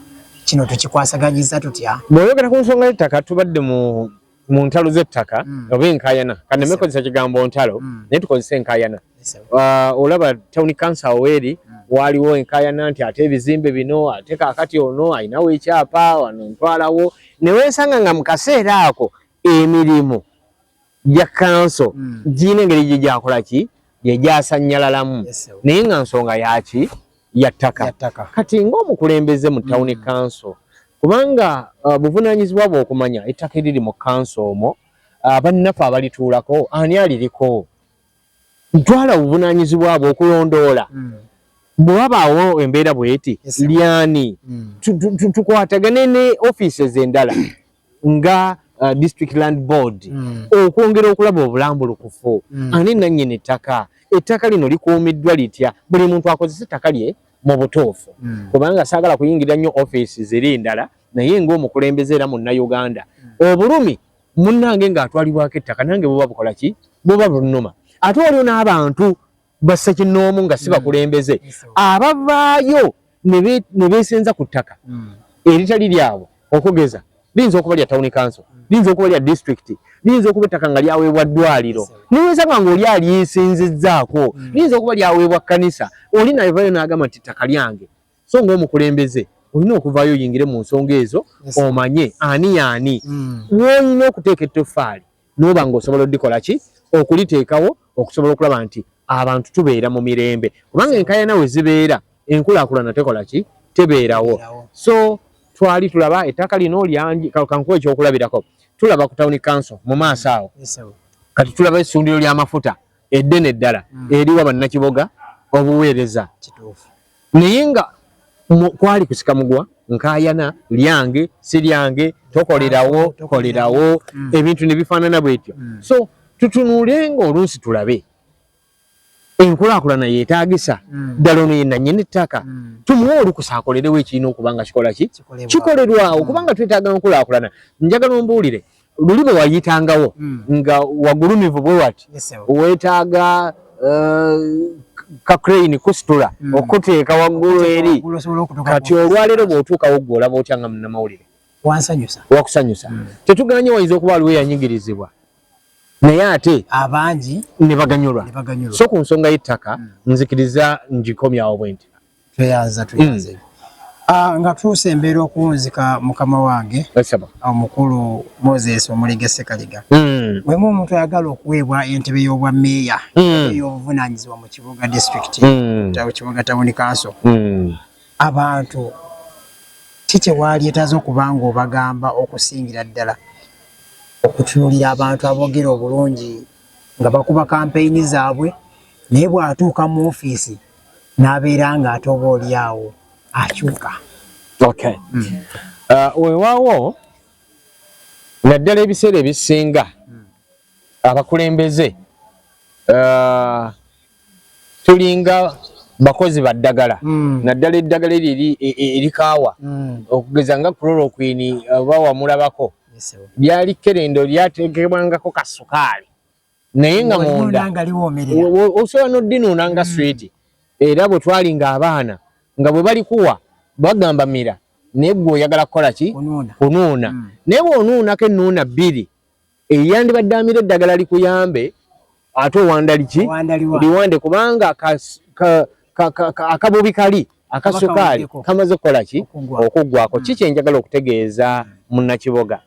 kino tukikwasaganyiza tutya bweyogera ku nsonga yettaka tubadde mu mu ntalo z'ettaka mm. oba enkayana kaneme yes, kozesa kigambo ntalo mm. naye tukozesa enkayana yes, uh, olaba tawuni kansa weeri mm. waaliwo enkayana nti ate ebizimbe bino ate kakati ono alinawo ekyapa wano ntwalawo newesanga nga mu kaseera ako emirimu gya kanso mm. girina engeri gye gyakola ki gye gyasanyalalamu yes, naye nga nsonga yaki ya ttaka kati ng'omukulembeze mu tawuni mm. kanso kubanga uh, buvunaanyizibwa bw'okumanya ettaka eriri mu kanso omwo uh, bannaffe abalituulako ani aliriko ntwala obuvunaanyizibwa bwe okulondoola mm. bwe wabaawo embeera bweti lyani mm. tukwatagane ne ofiisi ez'endala nga uh, district land board mm. okwongera okulaba obulambulukufu mm. ani nannyini ttaka ettaka lino likuumiddwa litya buli muntu akozesa ettaka lye mu butuufu mm. kubanga saagala kuyingira nnyo ofiisi ziri ndala naye ng'omukulembeze era munnauganda mm. obulumi munnange ng'atwalibwako ettaka nange buba bukola ki buba bunuma ate waliwo n'abantu ba ssekinnoomu nga si mm. bakulembeze abavaayo ne beesenza ku ttaka mm. eritali lyabwe okugeza liyinza okuba lya tawuni kanso mm. liyinza okuba lya disitulikiti liyinza okuba ettaka nga lyaweebwa ddwaliro newesaba nga oli alyesinzizzaako liyinza okuba lyaweebwa kkanisa oli nayevayo n'agamba nti ttaka lyange so ng'omukulembeze olina okuvaayo oyingire mu nsonga ezo omanye ani yaani woolina okuteeka ettoffaali noba nga osobola odikola ki okuliteekawo okusobola okulaba nti abantu tubeera mu mirembe kubanga enkayana we zibeera enkulakulana tekola ki tebeerawo so twali tulaba ettaka lino lyangi kankuwa ekyokulabirako tulaba ku tawuni kanso mu maaso awo kati tulaba essundiro ly'amafuta eddene eddala mm. eriwa bannakiboga obuweereza naye nga kwali kusikamugwa nkayana lyange si lyange tokolerawo tokolerawo mm. ebintu nebifaanana bwetyo mm. so tutunuulenga oluusi tulabe enkulaakulana yetaagisa mm. ddala ono ye nanyini ettaka mm. tumuwe olukusa akolerewo ekirina okuba nga kikola ki kikolerwawo mm. kubanga twetaaga nkulaakulana njagala ombuulire luli bwe wayitangawo mm. nga wagulumivu bwe wati yes, weetaaga uh, ka crane kusitula mm. okuteeka waggulu eri kati olwaleero bw'otuukawo gwe olaba otya nga munnamawulire wansanyusa wakusanyusa mm. tetuganye wayinza okuba aliwo eyanyigirizibwa naye ate abangi ne baganyulwa so ku nsonga y'ettaka mm. nzikiriza ngikomyawo bwenti tweyanza tweyanze mm. ah, nga tuuse embeera okuwunzika mukama wange omukulu moses omulige sekaliga mm. wemu omuntu ayagala okuweebwa entebe y'obwa meeya mm. ey'obuvunanyizibwa mu kibuga district mm. kibuga tawuni kanso mm. abantu ki kyewalyetaza okuba nga obagamba okusingira ddala okutunulira abantu aboogera obulungi nga bakuba kampeyini zaabwe naye bw'atuuka mu ofiisi n'abeera nga ate oba oli awo akyuka okay mm. uh, wewaawo naddala ebiseera ebisinga mm. abakulembeze uh, tulinga bakozi baddagala mm. naddala eddagala eryo e, e, erikaawa mm. okugeza nga kulolokwini oba wamulabako lyali kerendo lyateekebwangako kasukaali naye nga munda osobola nodinuuna nga mm. switi era bwe twali nga abaana nga bwe balikuwa bagamba mira naye gwe oyagala kukola ki kunuuna mm. naye bwonuunako ennuuna bbiri eyandibadde amira eddagala likuyambe ate owandaliki liwande kubanga akabubi kali akasukaali kamaze okukola ki okuggwako mm. kiki enjagala okutegeeza munnakiboga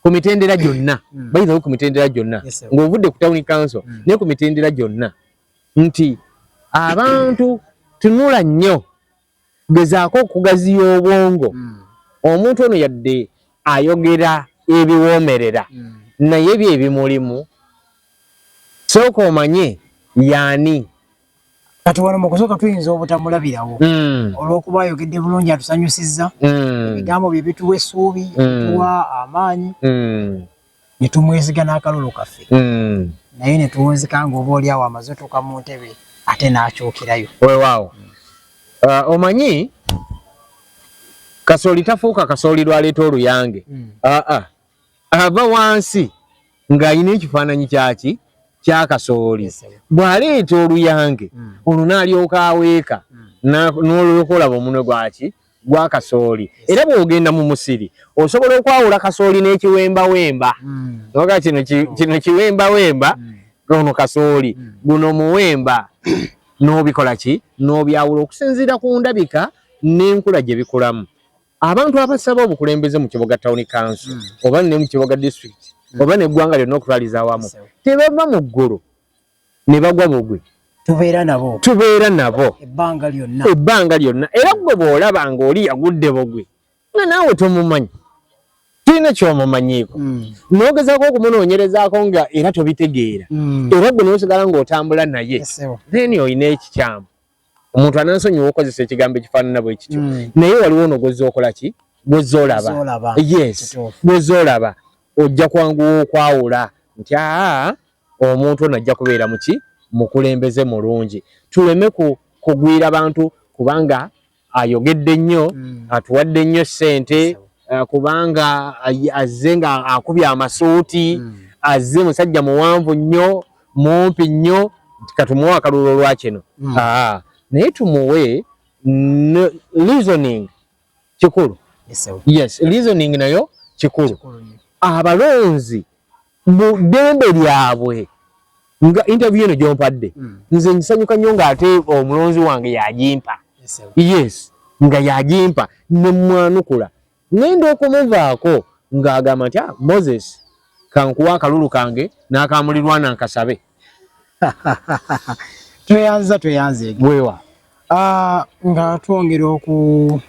ku mitendera gyonna mm. bayinza ku mitendera gyonna ng'ovudde ku tawuni kanso mm. naye ku mitendera gyonna nti abantu tunula nnyo gezaako okugaziya obwongo mm. omuntu ono yadde ayogera ebiwoomerera naye bye bimulimu sooka omanye yaani kati wano mukusoka tuyinza obutamulabirawo mm. olwokuba ayogedde bulungi atusanyusizza mm. ebigambo bye bituwa essuubi mm. tuwa amaanyi mm. ne tumweziga n'akalulu kaffe mm. naye ne tuwunzika nga oba oli awo amaze otuuka mu ntebe ate n'akyukirayo wewaawo mm. uh, omanyi kasooli tafuuka kasooli lwaleeta oluyange mm. aa uh, uh, ava wansi ng'alina ekifaananyi kyaki kya kasooli bw'aleeta oluyange hmm. ono n'alyoka aweeka hmm. n'olyoka olaba omunwe gwaki gwa kasooli era bw'ogenda mu musiri osobola okwawula kasooli n'ekiwembawemba hmm. oga kino kino kiwembawemba ono kasooli guno muwemba n'obikola ki n'obyawula okusinziira ku ndabika n'enkula gye bikulamu abantu abasaba obukulembeze mu kiboga tawuni kanso mm. oba ne mu kiboga disitulikiti mm. oba neggwanga lyonna okutwaliza awamu tebava mu ggulu ne bagwa bugwe tubeera nabo tubeera nabo ebbanga lyonna ebbanga lyonna era gwe bw'olaba ng'oli yagudde bugwe nga naawe tomumanyi tulina kyomumanyiiko mm. nogezaako okumunoonyerezaako nga era tobitegeera era gwe nosigala ng'otambula naye then olina ekikyamu omuntu anansonyiwa okozesa ekigambo ekifaanana bwe kityo mm. naye waliwo ono gwozza okola ki gwozza olaba yes gwozza olaba ojja kwanguwa okwawula nti aa omuntu ono ajja kubeera muki mukulembeze mulungi tuleme kugwira bantu kubanga ayogedde nnyo mm. atuwadde nnyo ssente eh, kubanga azze nga akubye amasuuti mm. azze musajja muwanvu nnyo mumpi nnyo nti katumuwe akaluulo lwa kino mm. ah, naye tumuwe reasoning kikulu yes reasoning nayo kikulu abalonzi mu ddembe lyabwe nga interview eno gyompadde hmm. nze nsanyuka nnyo ng'ate omulonzi wange yagimpa yes nga yagimpa ne mwanukula Ngenda okumuvaako ng'agamba nti ah, Moses kankuwa akalulu kange n'akamulirwana nkasabe. Tweyanziza tweyanzeege. Weewa. Ah, nga twongera oku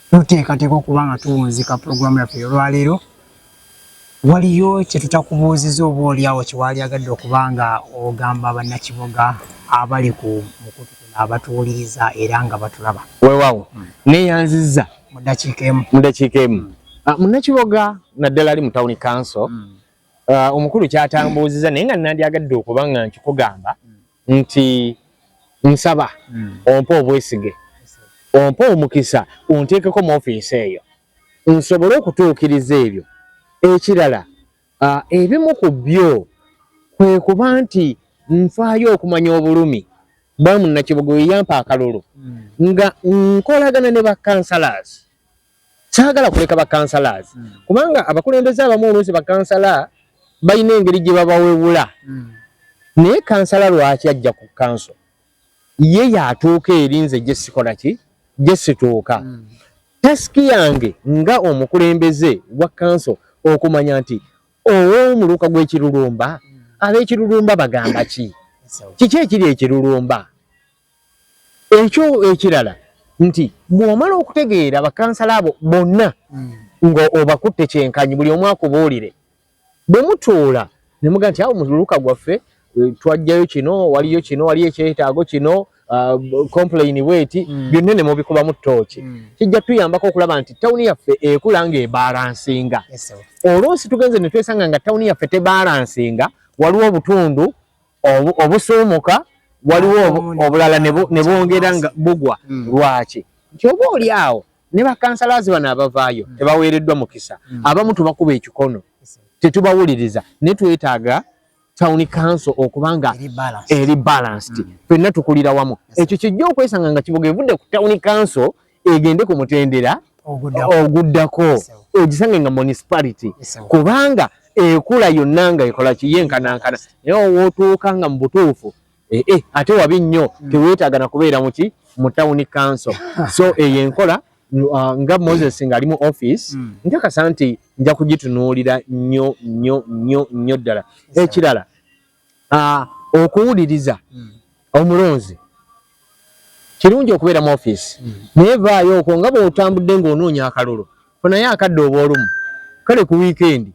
tuteekateeka okuba nga tuwunzika pulogulaamu yaffe olwaleero. Waliyo kye tutakubuuziza oba olyawo kye waalyagadde okuba nga ogamba Bannakiboga abali ku mukutu kuno abatuwuliriza era nga batulaba? Weewaawo, hmm. neeyanzizza mu ddakiika emu. Mu ddakiika emu. Hmm. Ah, Munnakiboga naddala ali mu tawuni kanso hmm. ah, omukulu kyatambuuziza naye nga nandyagadde okuba nga nkikugamba nti nsaba ompe obwesige ompe omukisa onteekeko mu ofiisi eyo nsobole okutuukiriza ebyo. Ekirala ebimu ku byo kwe kuba nti nfaayo okumanya obulumi bwa munnakibuga oyo yampa akalulu hmm. nga nkolagana ne bakansalaazi. Saagala kuleka bakansalaazi hmm. kubanga abakulembeze abamu oluusi bakansala balina engeri gye babawewula hmm. naye kansala lwaki ajja ku kanso? ye yatuuka eri nze gye sikola ki gye situuka mm. tasiki yange nga omukulembeze wa kanso okumanya nti ow'omuluka gw'ekirulumba mm. ab'ekirulumba bagamba ki kiki ekiri ekirulumba ekyo ekirala nti bw'omala okutegeera bakansala abo bonna mm. nga obakutte kyenkanyi buli omu akubuulire bwe mutuula ne muga nti awo muluka gwaffe eh, twajjayo kino waliyo kino waliyo ekyetaago kino ah, complain bweti mm. byonna ne mubikubamu ttooki mm. kijja tuyambako okulaba nti tawuni yaffe ekula nga ebalansinga oluusi tugenze ne twesanga nga tawuni yaffe tebalansinga waliwo obutundu obusuumuka waliwo obulala ne bwongera nga bugwa mm. lwaki nti oba oli awo ne bakansalaazi bano abavaayo mm. tebaweereddwa mukisa mm. abamu tubakuba ekikono tetubawuliriza ne twetaaga town council okuba nga eri balanced mm. fenna tukulira wamu ekyo kijja okwesanga nga kibuga evudde ku town council egende ku mutendera oguddako ogisange nga municipality kubanga ekula yonna nga ekola kiyenkanankana naye owootuuka nga mu butuufu Eh, eh, ate wabi nnyo hmm. teweetaaga na kubeera muki mu tawuni kanso so eyo enkola uh, nga moses ng'ali mu office hmm. njakasa nti nja kugitunuulira nnyo nnyo nnyo nnyo ddala ekirala uh, okuwuliriza hmm. omulonzi kirungi okubeera mu office naye vaayo okwo nga bw'otambudde ng'onoonya akalulu funayo akadde obw'olumu kale ku wiikendi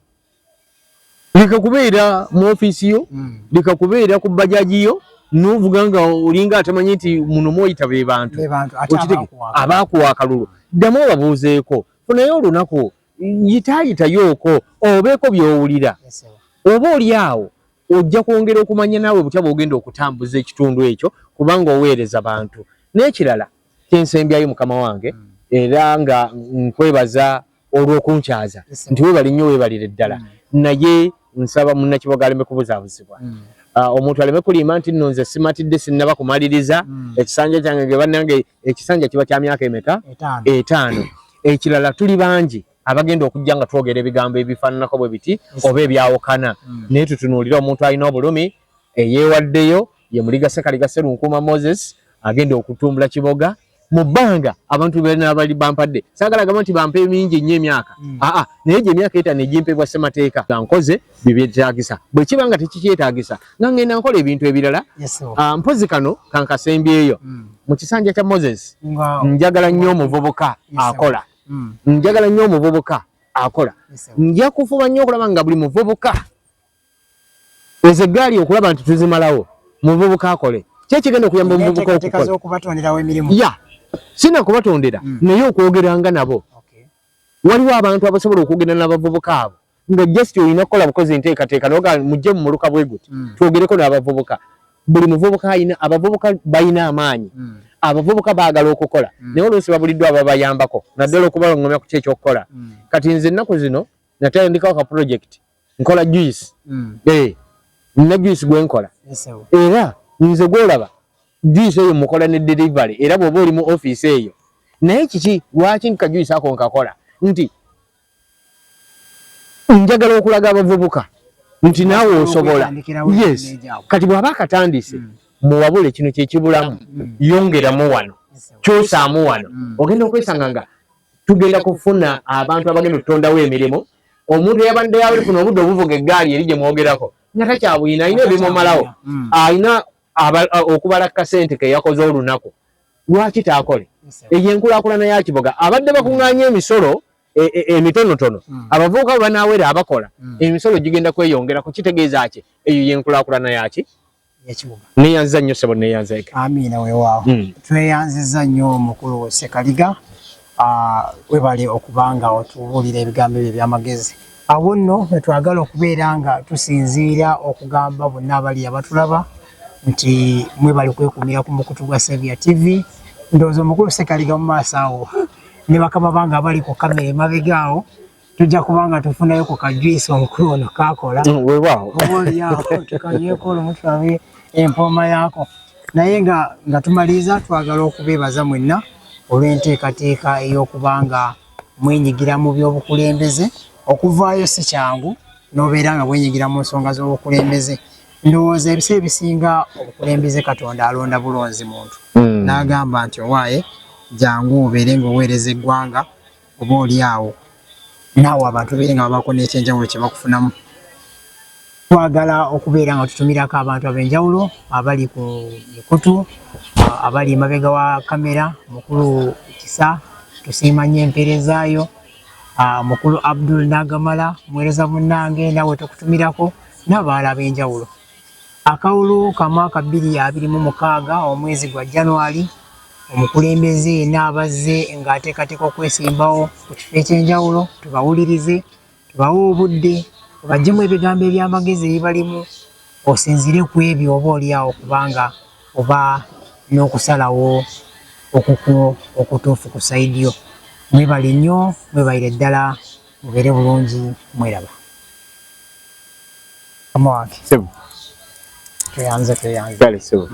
leka kubeera mu ofiisi yo mm. leka kubeera ku bajaji yo novuga nga olinga atamanyi nti muno mwoyita be bantu okitege abaakuwa akalulu ddamu obabuuzeeko funaye olunaku yitaayitayooko obeeko byowulira oba oli awo ojja kwongera okumanya naawe butya bwogenda okutambuza ekitundu ekyo kubanga oweereza bantu n'ekirala kyensembyayo mukama wange mm. era nga nkwebaza olw'okunkyaza nti webale nnyo webalire ddala mm. naye nsaba munnakiboga aleme kubuzabuzibwa mm. ah, omuntu aleme kulimba nti nno nze simatidde sinnaba kumaliriza mm. ekisanja kyange ge bannange ekisanja kiba kya myaka emeka etaano ekirala tuli bangi abagenda okujja nga twogera ebigambo ebifaananako bwe biti oba ebyawukana naye tutunuulire omuntu alina obulumi eyeewaddeyo ye muliga ssekaliga sserunkuuma moses agenda okutumbula kiboga mu bbanga abantu benaabali bampadde saagala gamba nti bampa emingi ennyo emyaka hmm. aa naye gye emyaka etano egimpebwa ssemateeka nga nkoze bye byetaagisa bwe kiba nga tekikyetaagisa nga ngenda nkola ebintu ebirala ah, mpozi kano kankasembyeyo hmm. mu kisanja kya moses njagala nnyo omuvubuka akola hmm. njagala nnyo omuvubuka akola nja kufuba nnyo okulaba nga buli muvubuka ezo eggaali okulaba nti tuzimalawo muvubuka akole ki ekigenda okuyamba omuvubuka okukolaya sina kubatondera hmm. naye okwogeranga nabo waliwo abantu abasobola okwogera n'abavubuka abo nga just olina kukola bukozi enteekateeka noga mujje mu muluka bwe guti hmm. twogereko n'abavubuka buli muvubuka alina abavubuka balina amaanyi hmm. abavubuka baagala okukola naye oluusi babuliddwa ababayambako naddala okubalongomya ku ki ekyokukola kati nze ennaku zino natandikawo ka pulojekiti nkola juice mm. eh nina juice gwe nkola yes, era nze gwolaba juice eyo mukola ne delivery era bwoba oli mu office eyo naye kiki lwaki nka juice ako nkakola nti njagala okulaga abavubuka nti naawe osobola yes kati bwaba akatandise mm. muwabule kino kyekibulamu mm. yongeramu wano kyosaamu wano mm. ogenda okwesanga nga tugenda kufuna abantu abagenda otutondawo emirimu omuntu eyabadde yali funa obudde obuvuga eggaali eri gye mwogerako nga takyabuyina alina ebimumalawo mm. alina okubala kasente ke yakoze olunaku lwaki taakole eyo enkulakulana ya kiboga abadde bakuŋŋaanya emisolo e, e, emitonotono mm. abavubuka bwe banaawera abakola mm. emisolo gigenda kweyongerako kitegeeza ki eyo yenkulakulana yaki yekibuga neyanziza nnyo sebo neyanzeke amiina wewaawo mm. tweyanziza nnyo omukulu wesekaliga uh, webale okubanga otubuulira ebigambo ebyo ebyamagezi awo nno wetwagala okubeera nga tusinziira okugamba bonna abali abatulaba nti mwebali kwekumira ku mukutu gwa savia tv ndowooza omukulu sekaliga mu maaso awo ne bakama bange abali ku kamera emabega awo tujja kuba nga tufunayo ku kajuyisi omukulu ono kakola mm, wewaawo oba olyawo tukanyweko olumu tulabe empooma yaako naye nga nga tumaliriza twagala okubeebaza mwenna olw'enteekateeka ey'okuba nga mwenyigira mu by'obukulembeze okuvaayo si kyangu n'obeera nga bwenyigira mu nsonga z'obukulembeze ndowooza ebisa ebisinga obukulembeze katonda alonda bulonzi muntu mm. n'agamba nti owaaye jangu obeere ng'oweereza eggwanga oba oli awo naawe abantu beere nga babaako n'ekyenjawulo kye bakufunamu twagala okubeera nga tutumirako abantu ab'enjawulo abali ku mikutu abali emabega wa kamera mukulu kisa tusiima nnyo empeerezaayo ah, mukulu abdul nagamala muweereza munnange naawe tukutumirako n'abaala ab'enjawulo Akalulu ka mwaka bbiri abiri mu mukaaga omwezi gwa January, omukulembeze yena abazze nga ateekateeka okwesimbawo ku kifo ekyenjawulo tubawulirize, tubawe obudde, obajjemu ebigambo eby'amagezi ebibalimu osinzire ku ebyo oba olyawo kubanga oba n'okusalawo okukwo okutuufu ku sayidi yo. Mwebale nnyo, mwebalire ddala, mubeere bulungi, mweraba. Mama wange. Sebo. Tuyanze tuyanze. Kale sebo.